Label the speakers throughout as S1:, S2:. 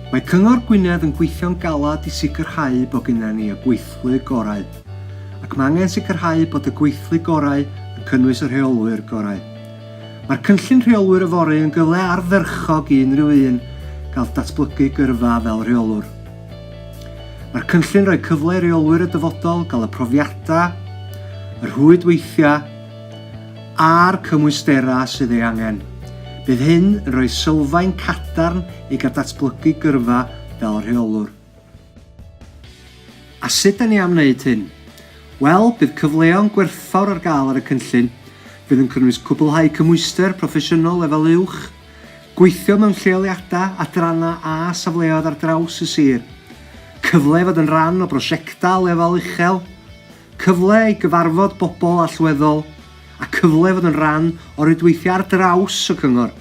S1: Mae Cyngor Gwynedd yn gweithio'n galed i sicrhau bod gennym ni y gweithlu gorau, ac mae angen sicrhau bod y gweithlu gorau yn cynnwys y rheolwyr gorau. Mae'r cynllun rheolwyr yfory yn gyfle ardderchog i unrhyw un gael datblygu gyrfa fel rheolwr. Mae'r cynllun rhoi cyfle i reolwyr y dyfodol gael y profiadau, y rhwydweithiau a'r cymwysterau sydd ei angen. Bydd hyn yn rhoi sylfaen cadarn i gael datblygu gyrfa fel rheolwr. A sut da ni am wneud hyn? Wel, bydd cyfleon gwerthfawr ar gael ar y cynllun, fydd yn cynnwys cwblhau cymhwyster proffesiynol lefel uwch, Gweithio mewn lleoliadau, adrannau a safleoedd ar draws y sir. Cyfle i fod yn rhan o brosiectau lefel uchel. Cyfle i gyfarfod bobl allweddol a cyfle i fod yn rhan o rwydweithiau ar draws y cyngor.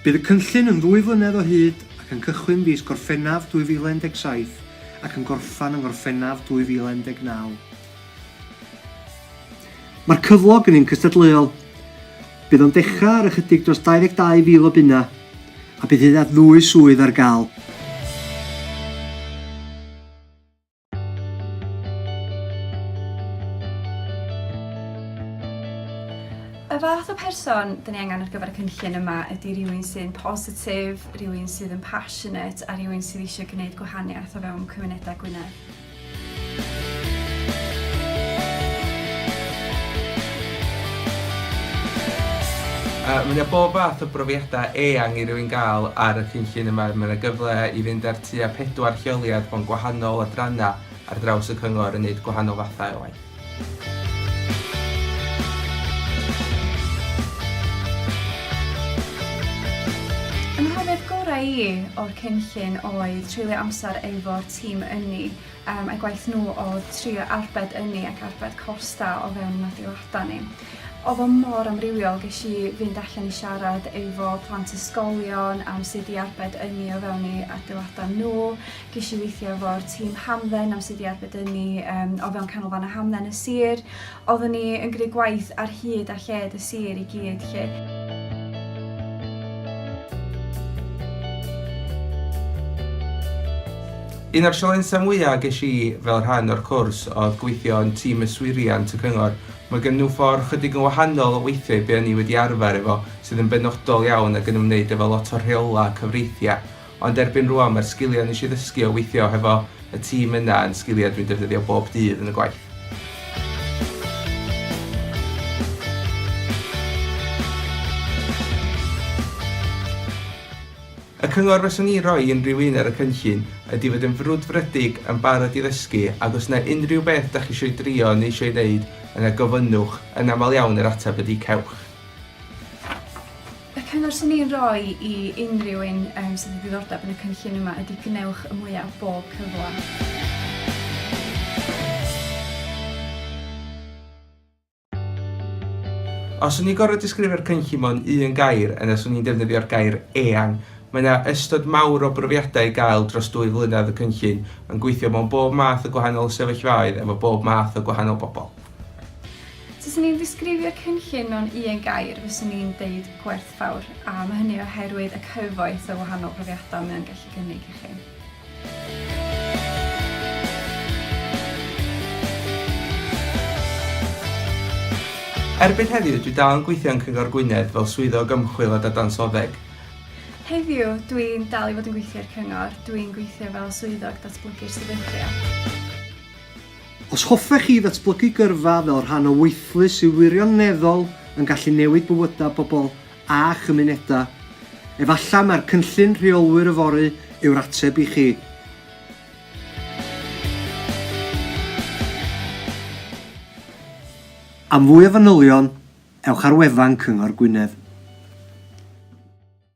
S1: Bydd y cynllun yn ddwy flynedd o hyd ac yn cychwyn fis Gorffennaf 2017 ac yn gorffen yng Ngorffennaf 2019. Mae'r cyflog yn un cystadleuol. Bydd o'n dechrau ar ychydig dros 22,000 o bunnau a bydd hyd at ddwy swydd ar gael.
S2: Y fath o person dan ni angen ar gyfer y cynllun yma ydy rhywun sy'n positif, rhywun sydd yn passionate a rhywun sydd eisiau gwneud gwahaniaeth o fewn cymunedau Gwynedd.
S3: Yy mae 'na bob fath o brofiadau eang i rywun gael ar y cynllun yma, mae 'na gyfle i fynd ar tua pedwar lleoliad mewn gwahanol adrannau ar draws y cyngor yn neud gwahanol fathau o waith.
S2: Y mhrofiad gorau i i o'r cynllun oedd treulio amser efo'r tîm ynni, yym a'i gwaith nhw oedd trio arbed ynni ac arbed costa o fewn ein adeilada ni. Oedd o mor amrywiol, ges i fynd allan i siarad efo plant ysgolion am sut i arbed ynni o fewn eu adeilada nhw, Ges i weithio efo'r tîm hamdden am sydd i arbedynnu um, o fewn canolfannau hamdden y sir. Oeddwn ni yn gwneud gwaith ar hyd a lled y sir i gyd lle.
S3: Un o'r sialensau mwyaf ges i fel rhan o'r cwrs oedd gweithio yn tîm yswiriant y cyngor. Mae gen nhw ffordd chydig yn wahanol o weithiau be o'n i wedi arfer efo, sydd yn benodol iawn ac yn ymwneud efo lot o rheola cyfreithiau. Ond erbyn rwan mae'r sgiliau nes i ddysgu o weithio hefo y tîm yna yn sgiliau dwi'n defnyddio bob dydd yn y gwaith. Y cyngor fyswn i'n rhoi i unrhyw un ar y cynllun ydi fod yn frwdfrydig, yn barod i ddysgu ac os yna unrhyw beth dach chi isio'i drio neu isio'i wneud yna gofynnwch, yn aml iawn yr ateb ydi cewch.
S2: Y cyngor sy'n ei roi i unrhyw un um, sydd wedi ddiddordeb yn y cynllun yma ydy gwnewch y mwyaf o bob cyfle.
S3: Os o'n i'n gorfod disgrifio'r cynllun mewn un gair, yna swn i'n defnyddio'r gair eang. Mae yna ystod mawr o brofiadau i gael dros dwy flynedd y cynllun, yn gweithio mewn bob math o gwahanol sefyllfaoedd efo bob math o gwahanol bobl.
S2: Taswn i'n disgrifio cynllun mewn un gair, fyswn i'n deud gwerthfawr, a mae hynny oherwydd y cyfoeth o wahanol brofiadau mae o'n gallu cynnig i chi.
S3: Erbyn heddiw, dwi dal yn gweithio yn Cyngor Gwynedd fel Swyddog Ymchwil a Dadansoddeg. Heddiw,
S2: dwi'n dal i fod yn gweithio i'r Cyngor, dwi'n gweithio fel Swyddog Datblygu'r Sefydliad.
S1: Os hoffech chi ddatblygu gyrfa fel rhan o weithlu sydd wirioneddol yn gallu newid bywydau pobl a chymunedau, efallai mai'r Cynllun Rheolwyr Yfory yw'r ateb i chi. Am fwy o fanylion, ewch ar wefan Cyngor Gwynedd.